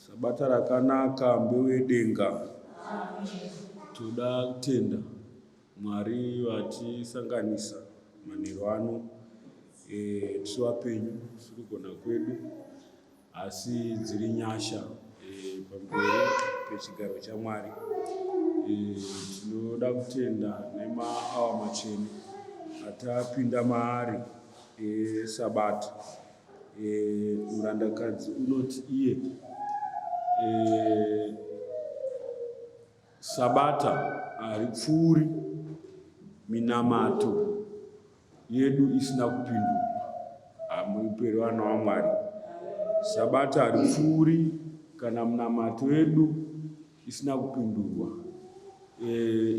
Sabata rakanaka mbeu yedenga. Toda kutenda Mwari vatisanganisa manheru ano e, tiri vapenyu tiri kugona kwedu asi dziri nyasha e, pamberi pechigaro chaMwari e, tinoda kutenda nemaawa machena atapinda maari esabata e, E, murandakadzi unoti iye e, sabata haripfuuri minamato yedu isina kupindurwa hamuperi vana wamwari sabata haripfuuri kana munamato yedu isina kupindurwa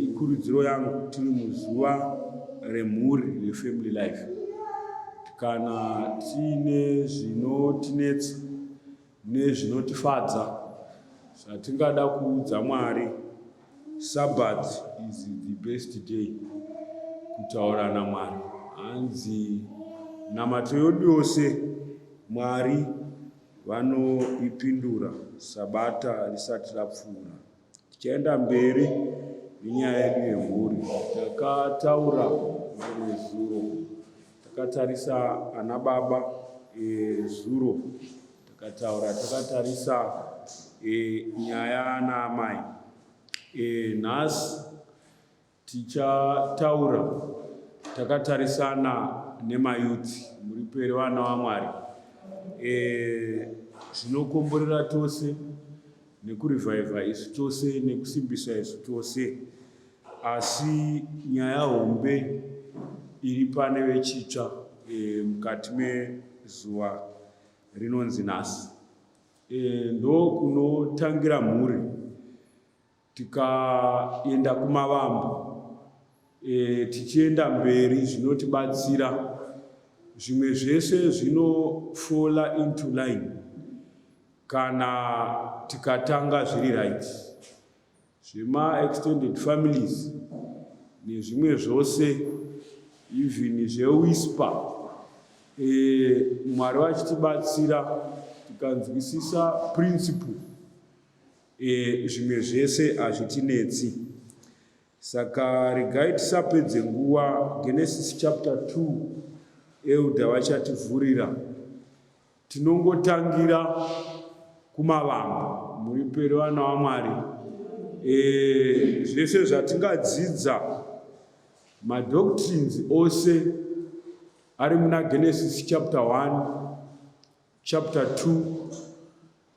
ikurudziro yangu tiri muzuva remhuri refamily life kana tiine zvinotinetsa nezvinotifadza zvatingada kuudza mwari sabbath is the best day kutaura namwari hanzi namato yodu yose mwari vanoipindura Sabata risati rapfuura. Tichaenda mberi nenyaya yedu yemhuri. Takataura nezuro, takatarisa ana baba ezuro, eh, takataura takatarisa eh, nyaya ana amai eh, nhasi Tichataura takatarisana nemayuthi muri peri vana vaMwari eh, zvinokomborera e, tose nekurivhaivha isu tose nekusimbisa isu tose asi nyaya hombe iri pane vechitsva e, mukati mezuva rinonzi nhasi e, ndokunotangira mhuri Tikaenda kumavambo e, tichienda mberi zvinotibatsira zvimwe zvese zvinofola into line kana tikatanga zviri right zvemaextended families nezvimwe zvose even zvewisper e, mwari vachitibatsira tikanzwisisa principle E, zvimwe zvese hazvitinetsi. Saka regai tisapedze nguva. Genesis chapter 2 elder vachativhurira. Tinongotangira kumavanga muriperi vana vaMwari. E, zvese zvatingadzidza madoctrines ose ari muna Genesis chapter 1 chapter 2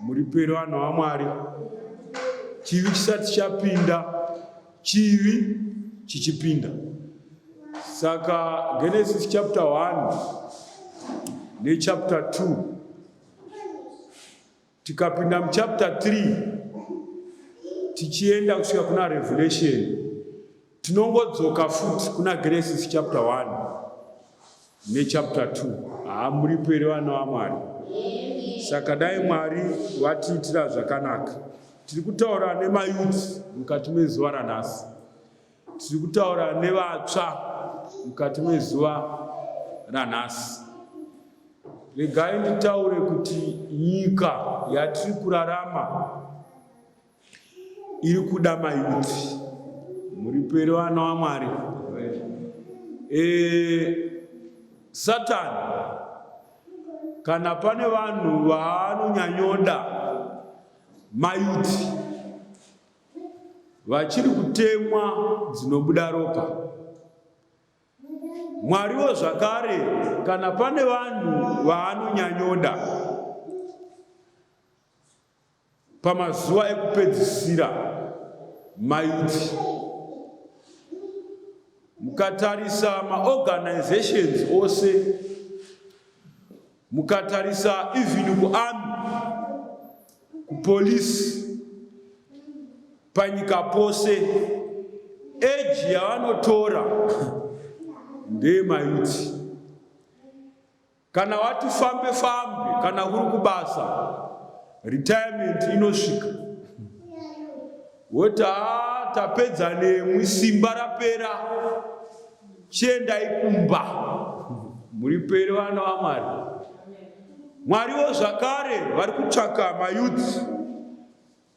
Muripire vanhu vaMwari, chivi chisati chapinda, chivi chichipinda. Saka Genesis chapter 1 nechapter 2 tikapinda muchapter 3 tichienda kusvika kuna Revelation Tinongodzoka futi kuna Genesis chapter 1 nechapter 2. Haa muripo here vana vaMwari? Saka dai Mwari vatiitira zvakanaka. Tiri kutaura nemayuti mukati mezuva ranhasi. Tiri kutaura nevatsva mukati mezuva ranhasi. Regai nditaure kuti nyika yatiri kurarama iri kuda mayuti muriperi vana wamwari e, satani kana pane vanhu vaanonyanyoda mayuti vachiri kutemwa dzinobuda ropa mwariwo zvakare kana pane vanhu vaanonyanyoda Pamazuva ekupedzisira maiti mukatarisa maorganizations ose mukatarisa even kuarmy kupolisi panyika pose eji yavanotora ndeyemaiti Kana wati fambe fambe kana uri kubasa retirement inosvika woti haa tapedza nemwi simba rapera chiendai kumba muri peri vana vamwari mwariwo zvakare vari kutsvaka mayouth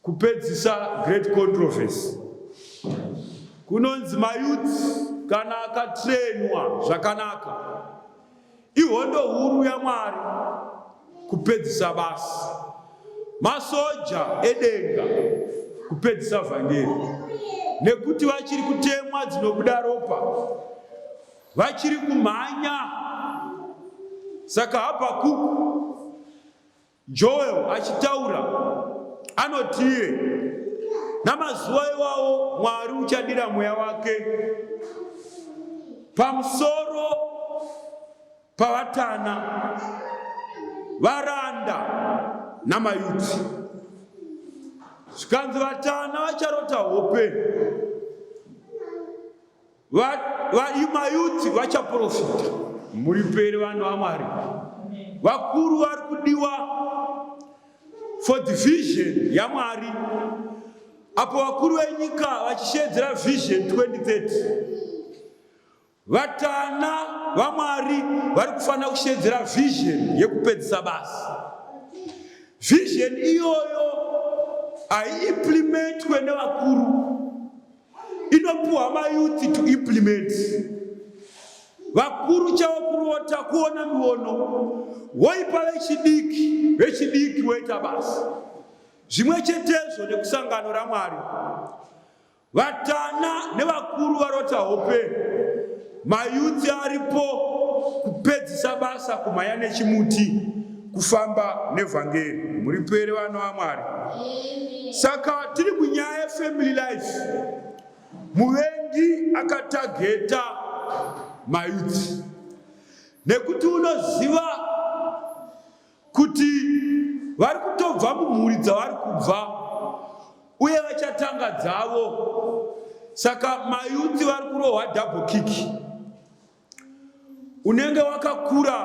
Kupedzisa great controversy kunonzi mayouth kana akatrenwa zvakanaka ihondo huru yamwari kupedzisa basi masoja edenga kupedzisa vhangeri nekuti vachiri kutemwa dzinobuda ropa vachiri kumhanya saka habakuku Joel achitaura anotie, namazuva iwawo Mwari uchadira mweya wake pamusoro pavatana varanda namayuti zvikanzi vatana vacharota hope Mayuti vachaprofita, muripere vanhu vaMwari. Vakuru vari kudiwa for the vision yaMwari. Apo vakuru venyika vachisheedzera vision 2030 vatana vaMwari vari kufanira kusheedzera vision yekupedzisa basa. Vision iyoyo haiimplementwe nevakuru inopiwa mayuthi to implement vakuru chavo kurota kuona miono woipa vechidiki vechidiki woita basi zvimwe chetezvo nekusangano ramwari vatana nevakuru varota hope Mayuti aripo kupedzisa basa kumhanya nechimuti kufamba nevhangeri muri pere vana vamwari saka tiri munyaya yefamily life muvengi akatageta mayuti nekuti unoziva kuti vari kutobva mumhuri dzavari kubva uye vachatanga dzavo saka mayuti vari kurohwa double kick unenge wakakura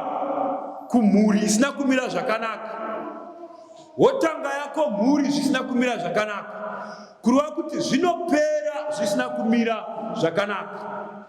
kumhuri isina kumira zvakanaka wotanga yako mhuri zvisina kumira zvakanaka kureva kuti zvinopera zvisina kumira zvakanaka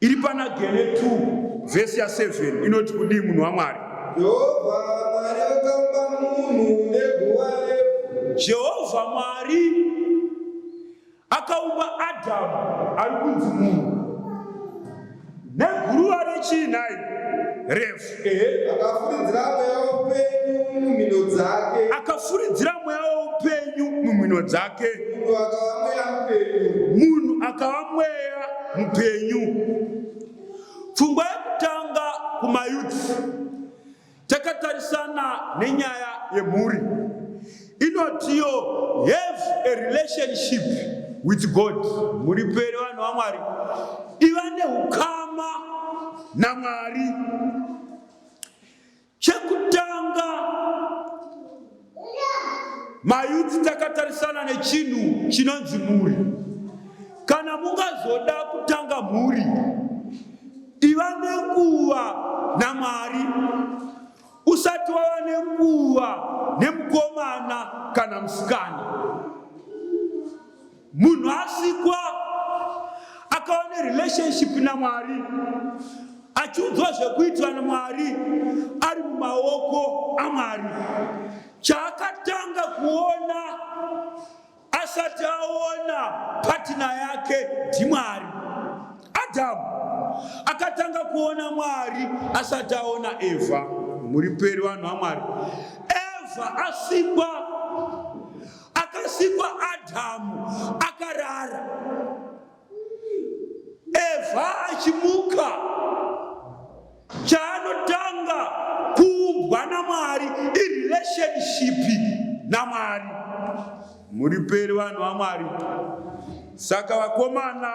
Iri pana Gene 2 vhesi ya 7 inoti kudii munhu waMwari? Jehovha Mwari akamba munhu neguva refu. Jehovha Mwari akaumba Adhamu ari kunzi munhu neguruva rechii nhai? Refu. Akafuridzira mweya woupenyu mumhino dzake. Akafuridzira mweya woupenyu mumhino dzake. Munhu akava mweya mupenyu. Pfungwa yekutanga kumayuti takatarisana nenyaya yemhuri. Inotiyo have a relationship with God, muripere vanhu vaMwari, iva neukama naMwari. Chekutanga mayuti takatarisana nechinhu chinonzi mhuri. Kana mungazoda kutanga mhuri, iva nenguva naMwari. Usati wava nenguva nemukomana kana musikana. Munhu asikwa akava nerelationship naMwari achiudzwa zvekuitwa naMwari ari mumaoko aMwari. Chaakatanga kuona Asati aona patina yake ndiMwari. Adhamu akatanga kuona Mwari asati aona Evha. Muri peri vanhu vaMwari. Evha asikwa, akasikwa Adhamu akarara. Evha achimuka, chaanotanga kuumbwa naMwari irelationship naMwari. Muriperi vanhu vaMwari. Saka vakomana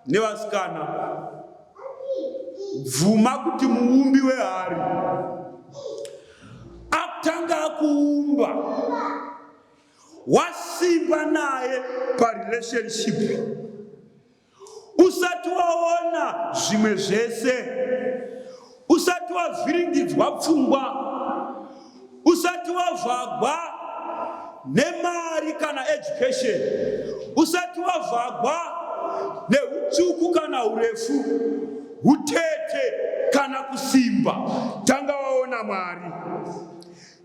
nevasikana, bvuma kuti muumbi wehari akutanga akuumba wasimba naye parelationship usati waona zvimwe zvese usati wavhiringidzwa pfungwa usati wavhagwa nemari kana education usati wavhagwa neutsvuku kana urefu utete kana kusimba tanga waona mwari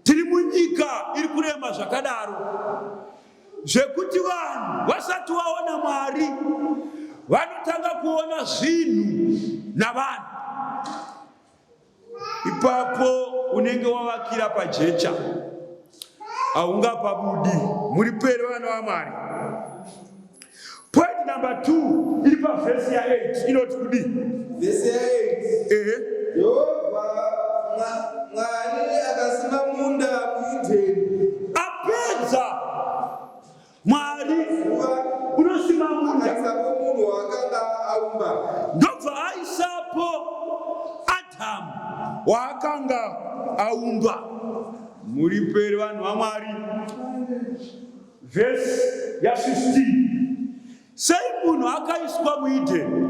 Tiri munyika iri kurema zvakadaro zvekuti vanhu vasati vaona Mwari vanotanga kuona zvinhu navanhu. Ipapo unenge wavakira pajecha, haungapabudi. Muri peri vana vaMwari. Point number 2 iri pavhesi ya 8 inoti kudii? Vhesi ya 8. Ehe. Jehovha Mwari akasima munda muEdheni. Apedza Mwari unosima munda. Akaisapo munhu waakanga aumba. Ndobva aisapo Adhamu waakanga aumba. Muriperi vanhu vaMwari. Vhesi ya 15 sei munhu akaiswa muEdeni?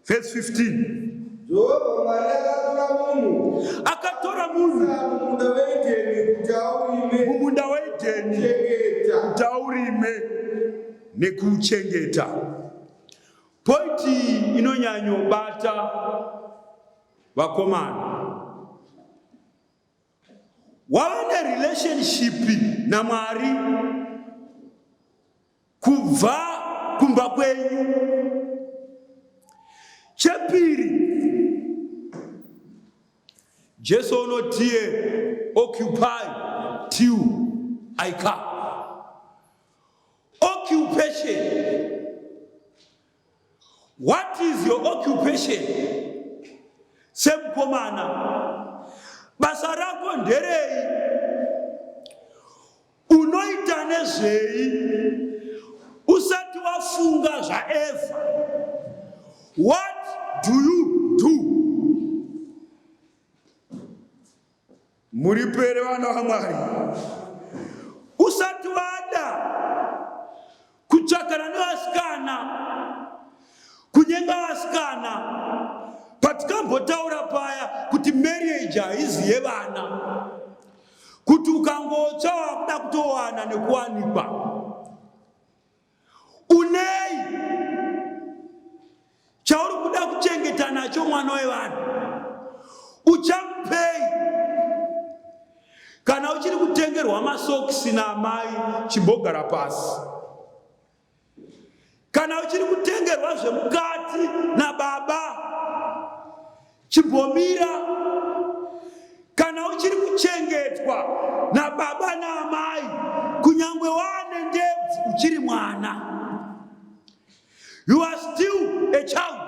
Vhesi 15 Jehovha Mwari akatora munhu akatora munhu mumunda weEdeni kuti aurime mumunda weEdeni chengeta kuti aurime nekuuchengeta. Pointi iyi inonyanyobata vakomana. wava nerelationship namwari kubva kumba kwenyu chepiri jesu unotiye occupy till i come occupation What is your occupation? Semukomana, basa rako nderei? Unoita nezvei? Usati wafunga zvaEvha. What do you do? Muripo here vana vaMwari? Usati wada kutsvakana nevasikana, kunyenga vasikana, patikambotaura paya kuti marriage haizi yevana, kuti ukangotsva wakuda kutowana nekuwanikwa Unei chauri kuda kuchengeta nacho mwana wevanhu? Uchamupei kana uchiri kutengerwa masokisi naamai? Chimbogara pasi. Kana uchiri kutengerwa zvemukati nababa, Chimbomira, kana uchiri kuchengetwa nababa naamai, kunyangwe waane ndebvu, uchiri mwana. You are still a child.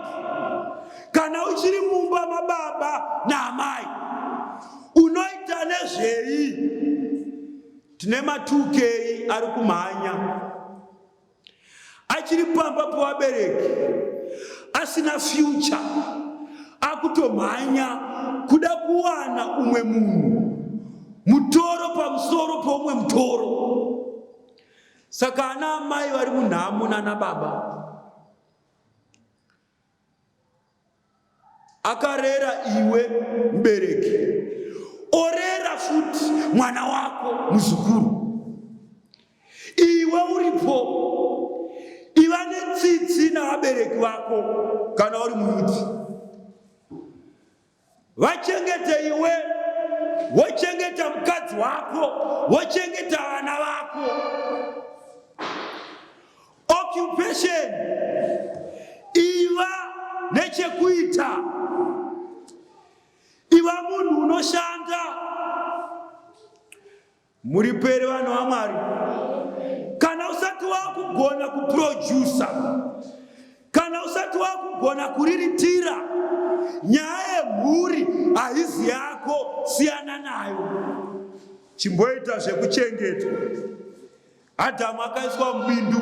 Kana uchiri mumba mababa naamai, unoita nezvei? Tine matukei ari kumhanya achiri pamba pevabereki asina future akutomhanya kuda kuwana umwe munhu mutoro pamusoro peumwe mutoro saka ana amai vari munhamo nana baba akarera iwe mubereki orera futi mwana wako muzukuru iwe uripo iva netsitsi navabereki vako kana uri muyuti Vachengete iwe, wochengeta mukadzi wako, wochengeta vana vako. Occupation iva nechekuita, iva munhu unoshanda Muri pere vanhu vaMwari? Kana usati wakugona kuprodusa, kana usati wakugona kuriritira, nyaya yemhuri haizi yako, siyana nayo. Chimboita zvekuchengetwa. Adhamu akaiswa mubindu,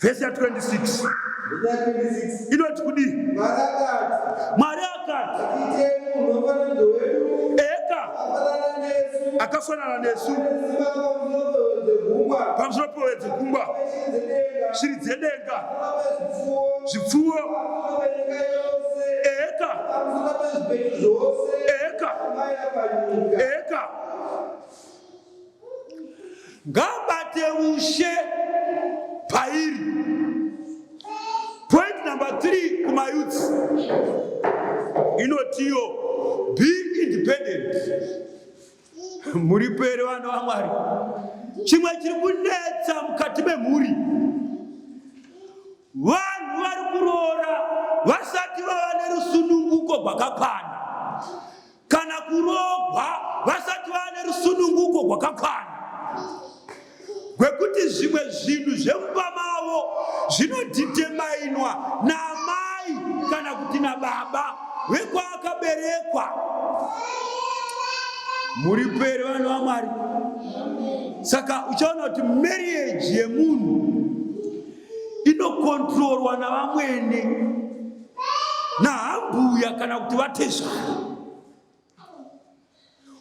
vhesi ya 26 inoti kudii mwari akati eka akafanana nesu pamusoro pove dzegungwa shiri dzedenga zvipfuwo eka eka eka ngabate ushe pairi point number 3 kumayutsi inotiyo be independent muri pere vana vamwari chimwe chiri kunetsa mukati memhuri vanhu vari kuroora vasati vava nerusununguko gwakakwana kana kuroogwa vasati vane rusununguko gwakakwana gwekuti zvimwe zvinhu zvemumba mavo zvinodhidhemainwa naamai kana kuti nababa vekwaakaberekwa muri peri vanhu vamwari saka uchaona kuti marriage yemunhu inokontrorwa navamwene naambuya kana kuti vatezvara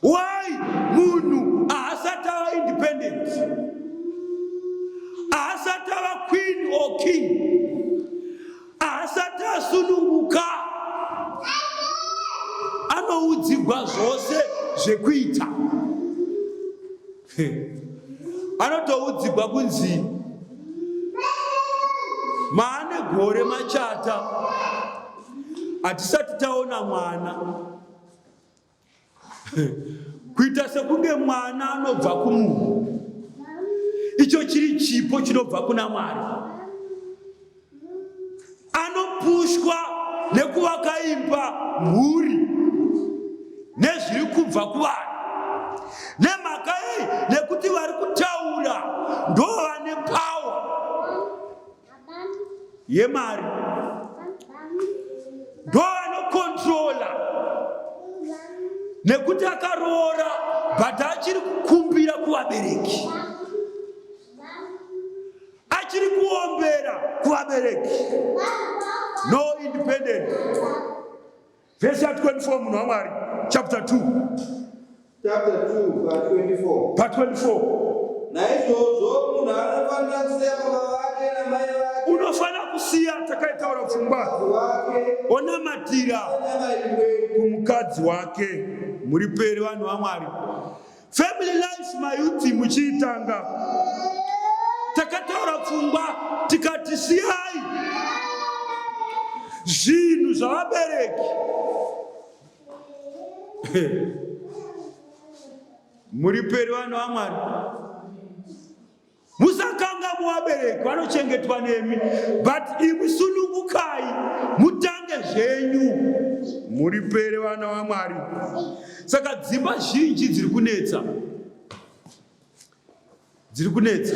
why munhu ahasati ava independent ahasati ava queen or king ahasati asununguka anoudzigwa zvose zvekuita anotoudzigwa kunzi maane gore machata hatisati taona mwana kuita sekunge mwana anobva kumunhu icho chiri chipo chinobva kuna mwari anopushwa nekuvaka imba mhuri nezviri kubva kuvanhu nemhaka yei nekuti vari kutaura ndo vane pawa yemari ndo vanokontrola nekuti akaroora but achiri kukumbira kuvabereki achiri kuombera kuvabereki no independent vhesi ya 24 munhu wamwari chapter 2 chapter 2 pa 24 pa 24 naizvozvo munhu anofanira kusiya baba vake namai vake unofanira kusiya takaitaura pfungwa onamatira kumukadzi wake muri peri vanhu vamwari Family life mayuti muchiitanga takataura pfungwa tikati siyai zvinhu zvavabereki muri peri vanhu vamwari musakangamwa vabereki vanochengetwa nemi but imi sunungukai mutange zvenyu muripere vana vamwari saka dzimba zhinji dziri kunetsa dziri kunetsa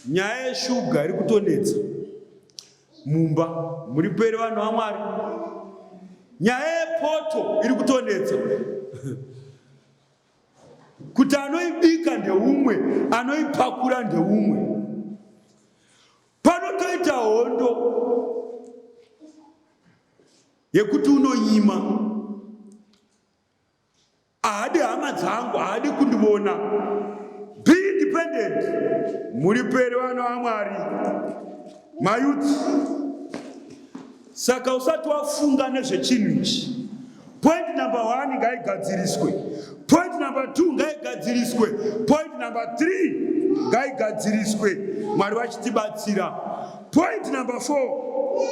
nyaya yeshuga iri kutonetsa mumba muripere vanhu vamwari nyaya yepoto iri kutonetsa kuti anoibika ndeumwe anoipakura ndeumwe panotoita hondo yekuti unonyima ahadi hama dzangu ahadi kundivona be independent muriperi vana vamwari mayuti Saka usati wafunga nezvechinhu ichi, point number one ngaigadziriswe, point number two ngaigadziriswe, point number three ngaigadziriswe, Mwari vachitibatsira. Point number four,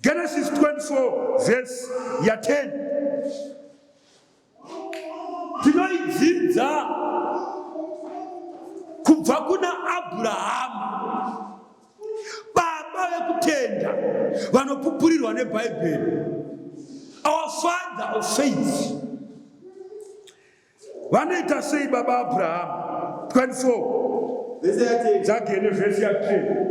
Genesis 24 verse ya 10 tinoidzidza kubva kuna abrahama baba vekutenda vanopupurirwa nebhaibheri our father of faith vanoita sei baba abrahama 24 dzagene vhesi ya 10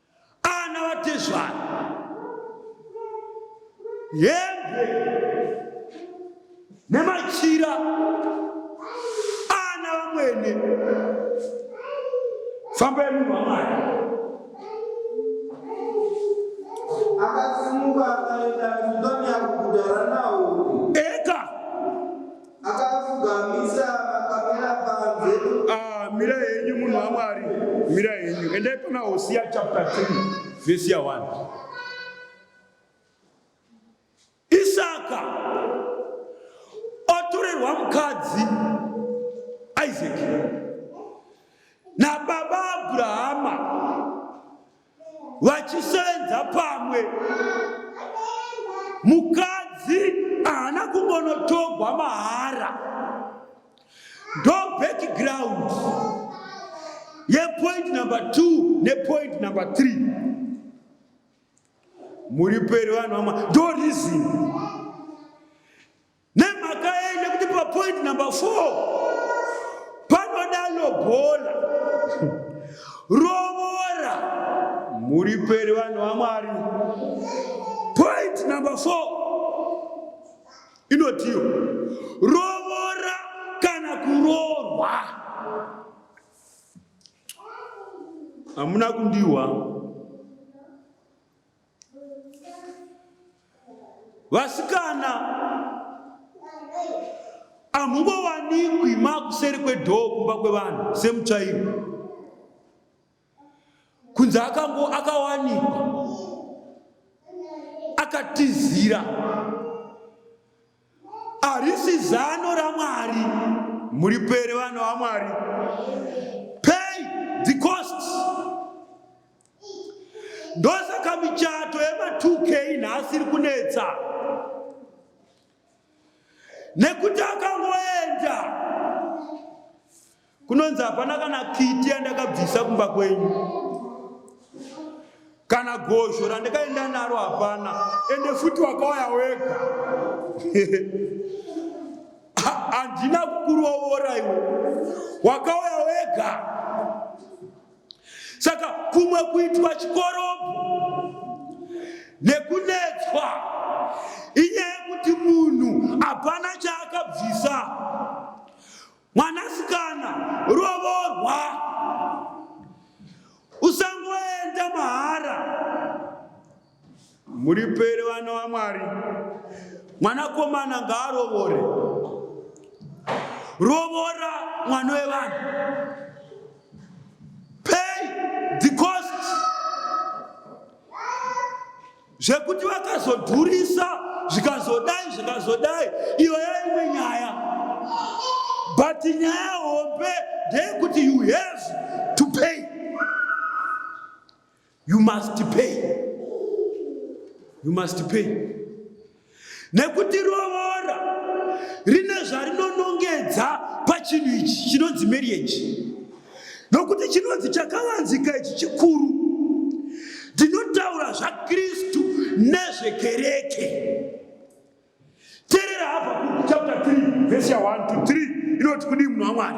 ana vatezvara hembe nemachira ana vamwene famba yemunhu wamwari akasimuka akaenda kudonya kuguta ranaori Akapfugamisa makamera panze. Ah, mira henyu munhu waMwari, mira henyu. Endai pana Hosea chapter 3 verse ya 1. Isaka otorerwa mukadzi Isaac nababa Abrahama vachisevenza pamwe mukadzi haana kungonotogwa mahara ndo background yepoint number two nepoint number three muri peri vanhu vamwa ndo reason Nemhaka yei? Nekuti papoint number four panoda lobola rovora mhuri peri vanhu vamwari. Point number four inotiyo rovora kana kuroorwa. Hamuna kundiwa. vasikana hamungowanikwi makuseri kwedhoo kumba kwevanhu semutsvairo kunze akango akawanikwa akatizira Harisi zano raMwari. Muripere vanhu vaMwari. Pay the cost. Ndosaka michato yema2k nhasi iri kunetsa nekuti akangoenda kunonzi hapana kana kiti yandakabvisa kumba kwenyu kana gozho randikaenda naro hapana ende futi wakauya wega handina kukurovora iwe wakauya wega saka kumwe kuitwa chikorobho nekunetswa inyaya yekuti munhu hapana chaakabvisa Mwanasikana, rovorwa. Usangoenda mahara. Muripere vana vaMwari. Mwanakomana ngaarovore. Rovora mwana wevanhu. Pay the cost. zvekuti vakazodhurisa zvikazodai zvikazodai iyo yaimwe nyaya but nyaya hombe ndeyekuti you have to pay you must pay you must pay Nekuti rovora rine zvarinonongedza pachinhu ichi chinonzi marriage. Nokuti chinonzi chakavanzika ichi chikuru. Ndinotaura zvaKristu nezvekereke. Terera hapa chapter 3 verse 1 to 3 inoti kudii munhu waMwari?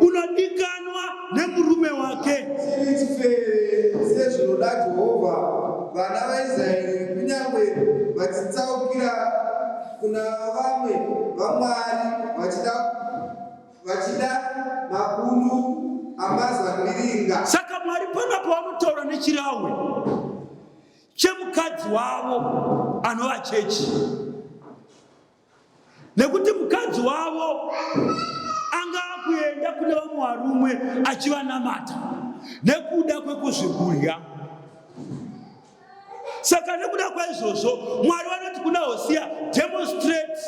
unodikanwa nemurume wake sezvinoda jehovha vana vaisraeri kunyange vachitsaukira kuna vamwe vamwari vachida vachida mabundu amazambiringa saka mwari pana pavanotaura nechirahwe chemukadzi wavo anova chechi nekuti mukadzi wavo anga akuenda kune vamwe varume achivanamata nekuda kwekuzvigurya. Saka nekuda kwaizvozvo Mwari vanoti kuna Hosiya, demonstrate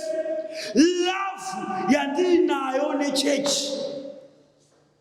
love yandiinayo nechechi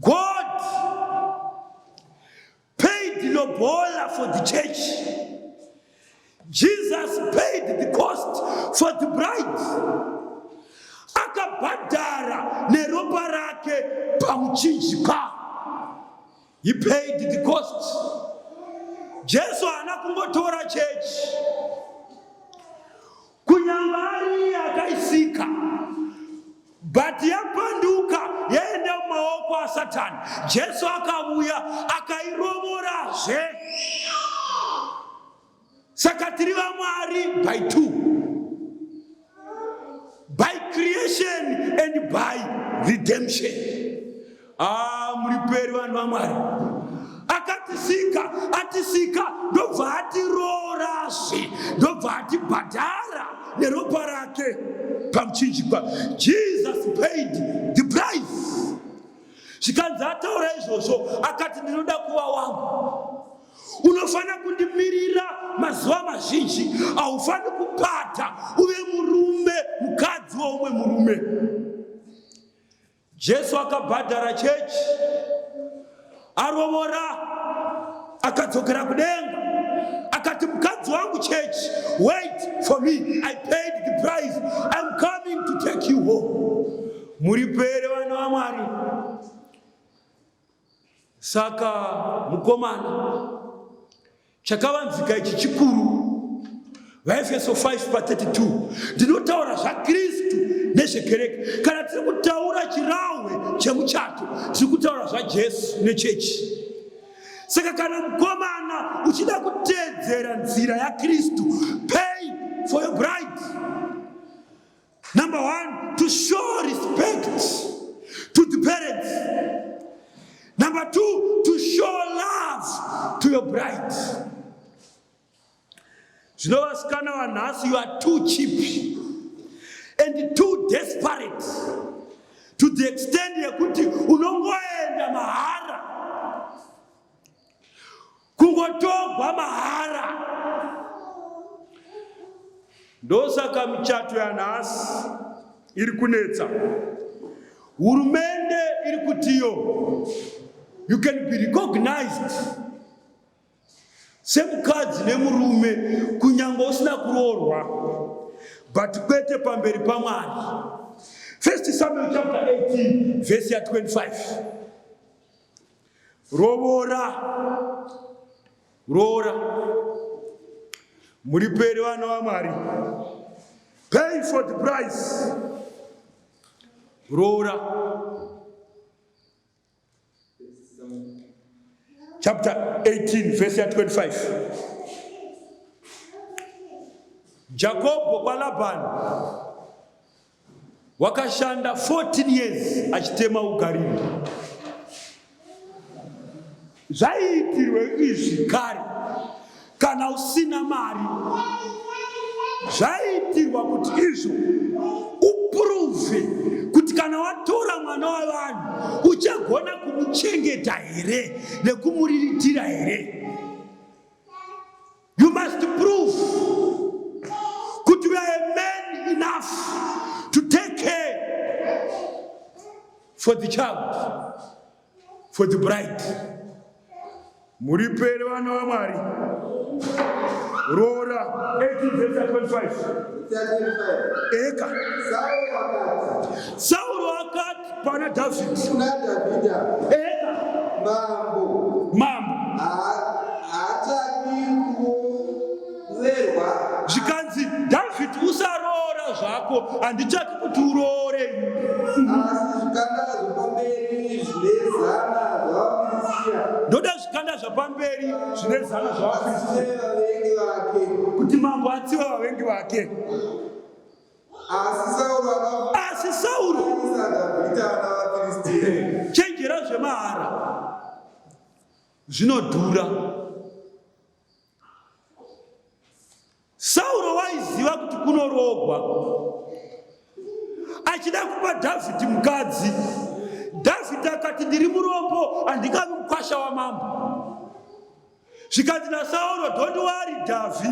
God paid lobola for the church. Jesus paid the cost for the bride. Akabhadhara neropa rake pamuchinjikwa. He paid the cost. Jesu haana kungotora chechi Kunyangwe ari iye akaisika but yapanduka yaenda mumaoko asatani jesu akavuya akairovorazve saka tiri vamwari by two by creation and by redemption Ah, muriperi vanhu vaMwari. Akatisika, atisika ndobva atiroorazve, ndobva atibhadhara neropa rake pamuchinjikwa. Jesus paid the price. Zvikanzi ataura izvozvo akati ndinoda kuva wangu. Unofanira kundimirira mazuva mazhinji, haufaniri kupata uve murume, mukadzi weumwe murume. Jesu akabhadhara chechi, arovora, akadzokera kudenga, akati mukadzi wangu chechi, wait for me, I paid the price, I'm coming to take you home. Muripo here vana vaMwari? Saka mukomana, chakavanzika ichi chikuru. VaEfeso 5 pa 32 ndinotaura zvaKristu nezvekereke. Kana tiri kutaura chirahwe chemuchato, tiri kutaura zvaJesu nechechi. Saka kana mukomana uchida kuteedzera nzira yaKristu, pay for your bride. Number one, to show respect to the parents. Number two, to show love to your bride. Zvino vasikana vanhasi, you are too cheap and too desperate to the extent yekuti unongoenda mahara kungotogwa mahara ndosaka michato yanhasi iri kunetsa hurumende iri kutiyo you can be recognized semukadzi nemurume kunyange usina kuroorwa but kwete pamberi pamwari first samuel chapter 18 vhesi ya 25 Roora, roora, muripere vana vaMwari, pay for the price. Roora, chapter 18 verse 25. Jakobo kwa Labani Wakashanda 14 years achitema ugariri. Zvaiitirwe izvi kare kana usina mari zvaiitirwa kuti izvo upuruve kuti kana watora mwana wavanhu uchagona kumuchengeta here nekumuriritira here You must prove kuti you are a man enough to take care for the child, for the bride. Muripere vana vaMwari. Roora 18 verse 25. Eka. Sauro akati. Pana David. Kuna David. Eka. Mambo. Mambo. Haachadi kurerwa. Zvikanzi David usaroora zvako handichadi kuti uroore. Asi zvikanda zvepamberi zvine zana zvavaFiristia. Ndoda zvikanda zvapamberi zvine zana zvavaFiristia. Kuti mambo atsive vavengi vake. asi sauro chenjera zvemahara zvinodhura sauro waiziva kuti kunorogwa achida kupa dhavhidhi mukadzi dhavhidhi akati ndiri murombo handingavi mukwasha wamambo zvikanzi nasauro don't worry dhavi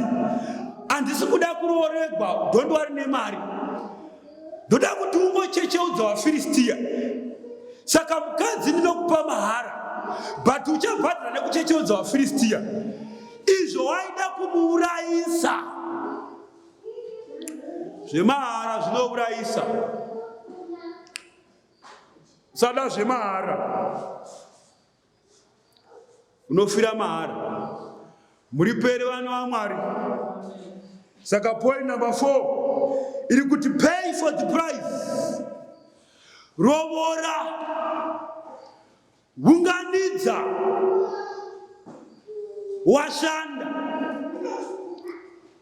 handisi kuda kurooregwa don't worry nemari ndoda kuti ungochecheudza vafiristiya saka mukadzi ndinokupa mahara but uchabhadhara nekuchecheudza vafiristiya izvo waida kumuurayisa zvemahara zvinourayisa sada zvemahara unofira mahara muriperi vana vamwari saka point number four iri kuti pay for the price rovora unganidza washanda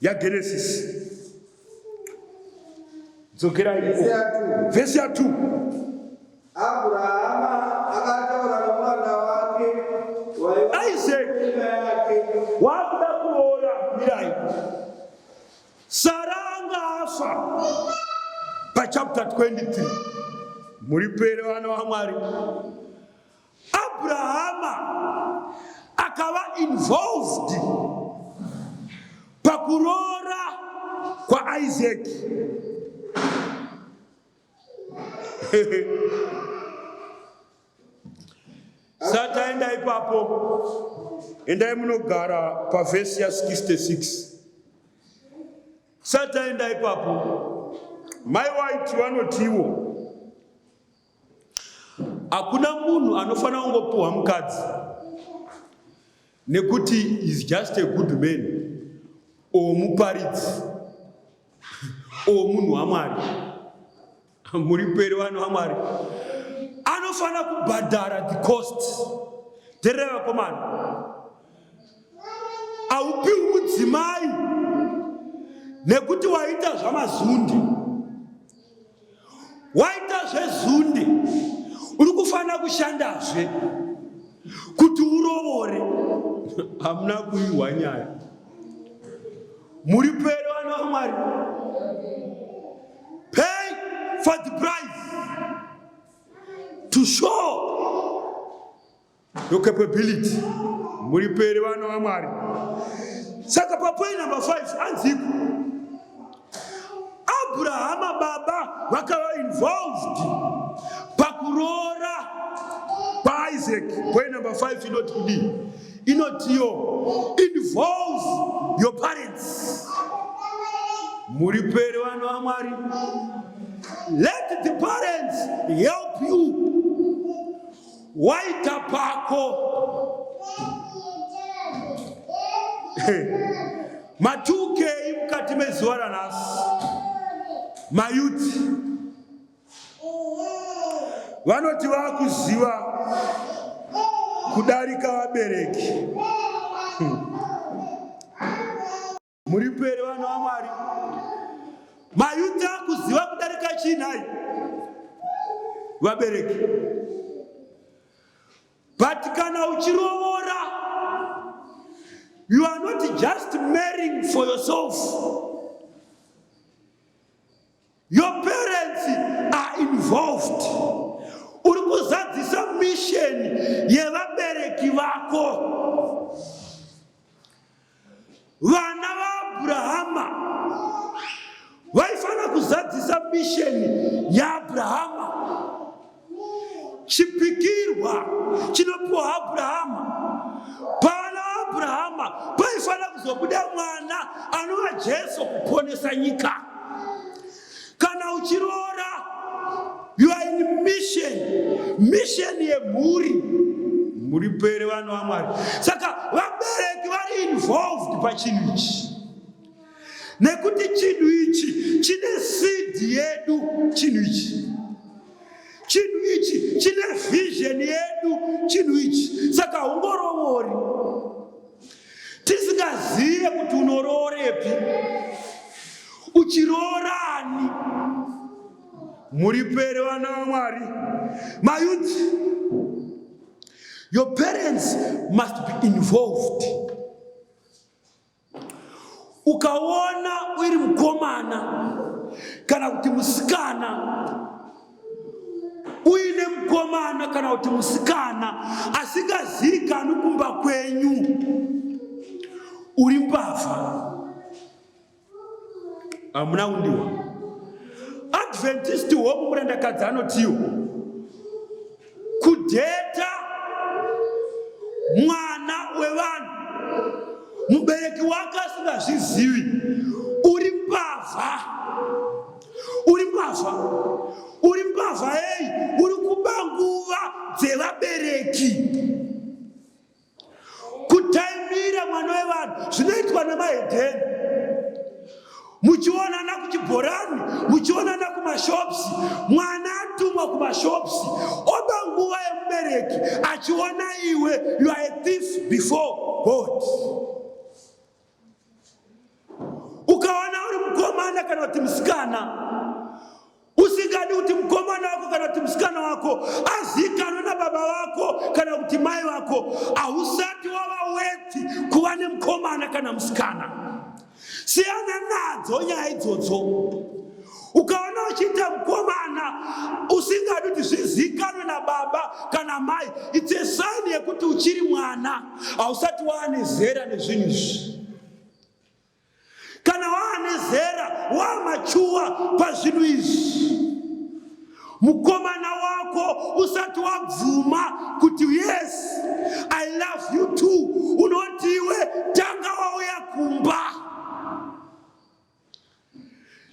yaGenesis. Dzokera iko. Vhesi ya 2. Abrahama akataura nomwana wake Isaac wakuda kuroora mirai. Sara anga afa pachapter 23 muripere vana vaMwari Abrahama akava involved pakuroora kwaIsaac. Sata endai papo, endai munogara pavhesi ya 66. Sata endai papo, mai waiti vanotiwo Hakuna munhu anofanira kungopiwa mukadzi nekuti is just a good man or muparidzi or munhu wamwari muri peri vanhu vamwari anofanira kubhadhara the cost terera vakomana haupiwi mudzimai nekuti waita zvamazundi waita zvezunde uri kufanira kushandazve kuti urovore hamuna kuihwa nyaya muri pere vana vamwari pay for the price to show your capability muri peri vana vamwari saka papoi number 5 anziko abrahama baba vakava involved pakuroora paisaac poi number 5 inoti kudii inotiyo involve your parents muri peri vana vamwari let the parents help you Waita pako. Matukei mukati mezuva ranhasi. Mayuti vanoti vakuziva kudarika vabereki. Hmm. Muri pere vana vaMwari, mayuti akuziva kudarika chii nhai vabereki? But kana uchirovora, you are not just marrying for yourself. Your parents are involved. Uri kuzadzisa mission yevabereki vako. Vana vaAbrahama vaifanira kuzadzisa mission yaAbrahama. Chipikirwa chinopiwa Abrahama. Pana Abrahama paifanira kuzobuda mwana anova Jesu kuponesa nyika. Kana uchiroora, you are in mission, mission yemhuri muri pere vanhu vaMwari. Saka vabereki vari involved pachinhu ichi. nekuti chinhu ichi chine sidi yedu chinhu ichi chinhu ichi chine vision yedu chinhu ichi saka ungoroori tisingazive kuti unoroorepi uchiroorani muripere vana vamwari mayuti your parents must be involved Ukaona uri mukomana kana kuti musikana uine mukomana kana kuti musikana asingazivikanwi kumba kwenyu, uri mbavha, hamuna kundiwa. Adventist home murandakadzi anotiwo kudhedha mwana wevanhu mubereki wake asingazvizivi uri mbavha uri mbavha uri mbavha eyi uri kuba nguva dzevabereki kutaimira mwana wevanhu zvinoitwa nemahedheni muchionana kuchibhorani muchionana kumashopsi mwana atumwa kumashopsi oba nguva yemubereki achiona iwe you are a thief before god Ukaona uri mukomana kana kuti musikana usingadi kuti mukomana wako kana kuti musikana wako azikanwe nababa vako kana kuti mai vako, hausati wava weti kuva nemukomana kana musikana. Siyana nadzo nyaya idzodzo. Ukaona uchiita mukomana usingadi kuti zvizikanwe nababa kana mai, it's a sign yekuti uchiri mwana, hausati waane zera nezvinhu izvi. Kana waane zera, wamachuwa pazvinhu izvi. Mukomana wako usati wabvuma kuti yes I love you too, unoti iwe tanga wauya kumba.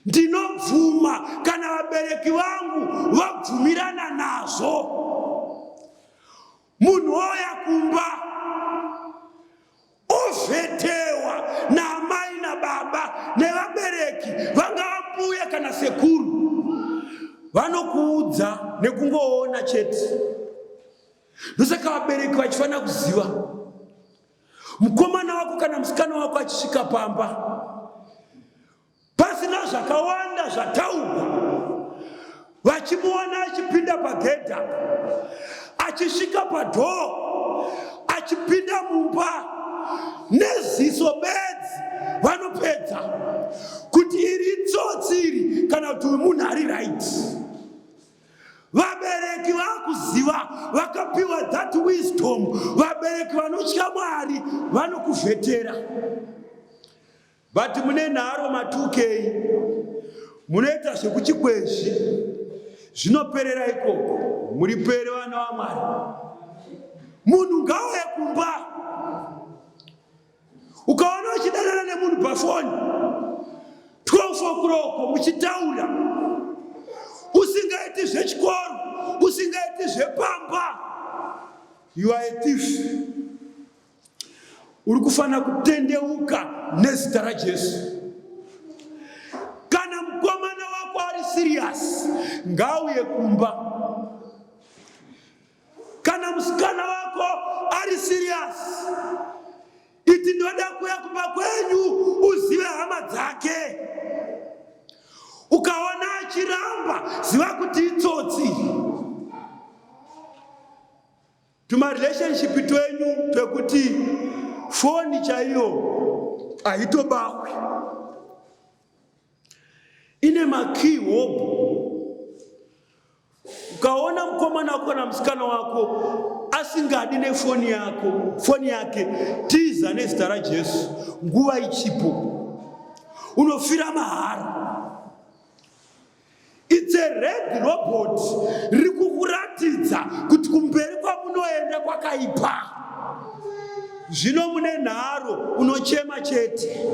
Ndinobvuma kana vabereki vangu vabvumirana nazvo. Munhu ouya kumba ovhetewa naamai nababa nevabereki, vangava mbuya kana sekuru, vanokuudza nekungoona chete. Ndosaka vabereki vachifanira kuziva Mukomana wako kana musikana wako achisvika pamba pasina zvakawanda zvataurwa, vachimuona achipinda pagedha, achisvika padhoo, achipinda mumba neziso bedzi, vanopedza kuti iri itsotsi iri kana kuti uyu munhu ari raiti. Vabereki vakuziva vakapiwa that wisdom. Vabereki vanotya Mwari vanokuvhetera. But mune nharo matukei munoita zvekuchikwezvi zvinoperera ikoko muripere vana vamwari munhu ngauye kumba ukaona uchidanana nemunhu pafoni 12 o'clock muchitaura usingaiti zvechikoro usingaiti zvepamba you are a thief uri kufanira kutendeuka nezita rajesu kana mukomana wako ari siriyasi ngauye kumba Kana musikana wako ari serious, iti ndoda kuya kumba kwenyu uzive hama dzake. Ukaona achiramba, ziva kuti itsotsi. Tumarelationship twenyu twekuti foni chaiyo haitobahwi. ine makii hobho. Ukaona mkomana wako kana musikana wako asingadi nefoni yako foni yake, tiza nezita raJesu, nguva ichipo, unofira mahara. It's a red robot riri kukuratidza kuti kumberi kwamunoenda kwakaipa. Zvino mune nharo unochema chete.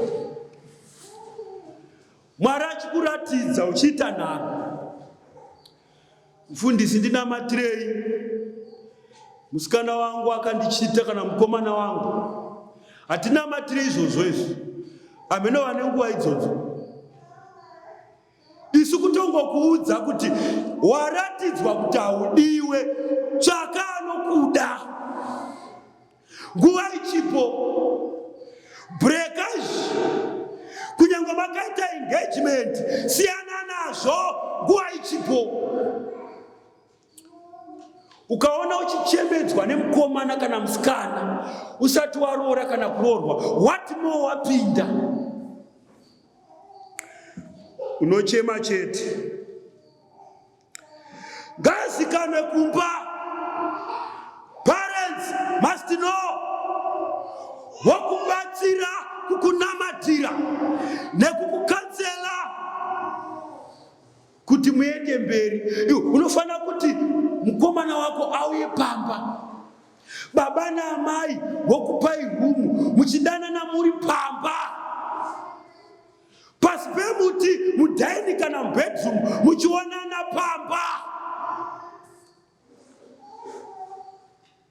Mwari achikuratidza uchiita nharo. Mfundisi ndinamatirei? Musikana wangu akandichita kana mukomana wangu. Hatinamatiri izvozvo izvi. Ameno vane nguva idzodzo. isu kutongokuudza kuti waratidzwa kuti haudiwe tsvaka anokuda nguva ichipo breakage kunyange makaita engagement siyana nazvo nguva ichipo ukaona uchichemedzwa nemukomana kana musikana usati waroora kana kuroorwa what more wapinda unochema chete ngazikanwe kumba parents must know vokubatsira kukunamatira nekukukanzera kuti muende mberi unofanira kuti mukomana wako auye pamba baba naamai vokupai rumu muchidanana muri pamba pasi pemuti mudhaini kana mubedroom muchionana pamba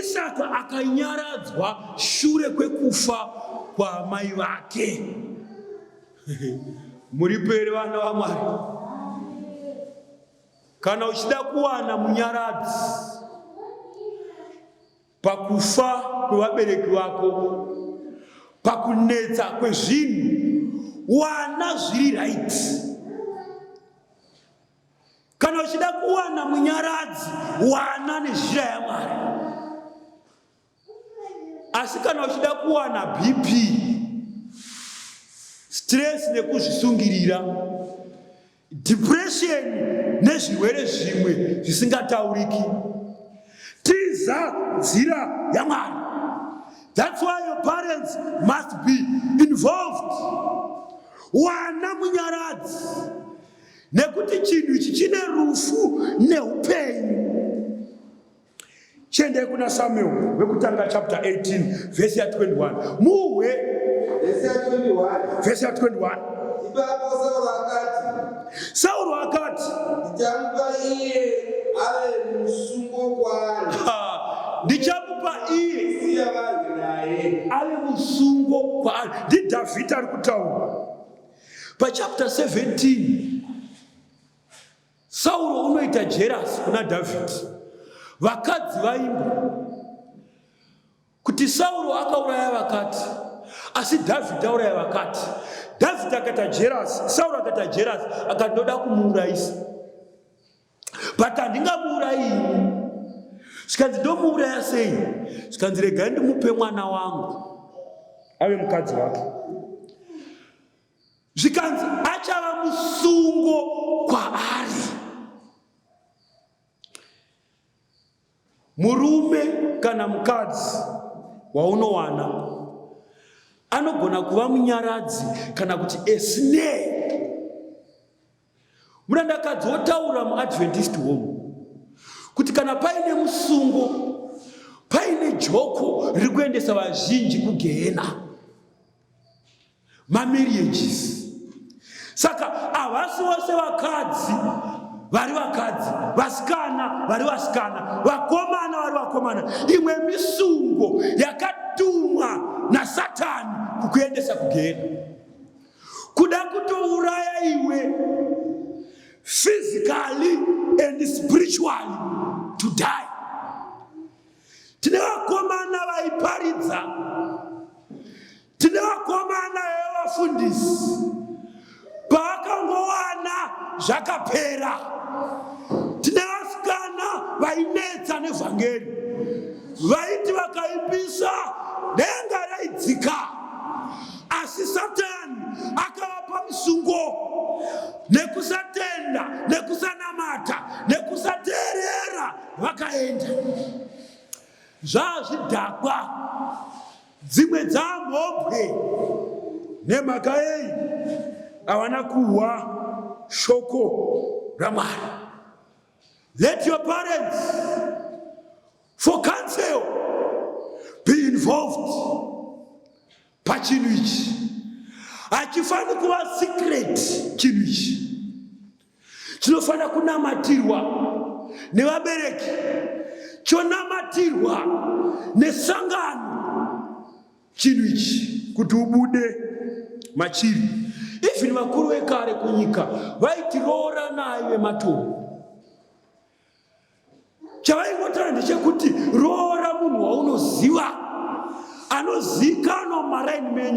Isaka akanyaradzwa shure kwekufa kwaamai vake. Muripo here vana vaMwari? Kana uchida kuwana munyaradzi pakufa kwevabereki vako, pakunetsa kwezvinhu, wana zviri right. Kana uchida kuwana munyaradzi, wana nezhira yaMwari. Asi kana uchida kuwana BP, stress nekuzvisungirira, depression nezvirwere zvimwe zvisingatauriki tiza nzira yamwari thats why your parents must be involved wana munyaradzi nekuti chinhu ichi chine rufu neupenyu Chiendai kuna Samuel vekutanga chapter 18 verse ya 21. Muhwe verse ya 21. Verse ya 21. Ipapo Sauro akati. Sauro akati. Ndichamupa iye ave musungo kwaari. Ndichamupa iye. Siya vanhu naye. Ave musungo kwaari. Ndi Dhavhidha ari kutaura. Pa chapter 17 Sauro unoita jerasi kuna Dhavhidhi. Vakadzi vaimba kuti Sauro akauraya vakati, asi Dhavhidhi auraya vakati. Dhavhidhi akaita jerasi, Sauro akaita jerasi, akati ndoda kumuurayisa, but handingamuurayi zvikanzi ndomuuraya sei? Zvikanzi regai ndimupe mwana wangu ave mukadzi wake. zvikanzi achava musungo kwaari. Murume kana mukadzi waunowana anogona kuva munyaradzi kana kuti esnei Murandakadzi wotaura muAdventist home kuti kana paine musungo, paine joko riri kuendesa vazhinji kugehena, mamarriages. Saka havasi vose vakadzi vari vakadzi, vasikana vari vasikana, vakomana vari vakomana. Imwe misungo yakatumwa naSatani kukuendesa kugehena. kuda kutouraya iwe physically and spiritually to die tine vakomana vaiparidza tine vakomana vevafundisi paakangowana zvakapera tine vasikana vainetsa nevhangeri vaiti vakaipisa denga raidzika asi satani akavapa musungo nekusatenda nekusanamata nekusateerera vakaenda zvazvidhakwa dzimwe dzamhombwe nemhaka yei avana kuhwa shoko ramwari let your parents for council be involved pachinhu ichi hachifaniri kuva secret chinhu ichi chinofanira kunamatirwa nevabereki chonamatirwa nesangano chinhu ichi kuti ubude machiri even vakuru vekare kunyika vaitiroora naye vematombo Chavaingotaura ndechekuti roora munhu waunoziva anozikanwa mumaraini menyu.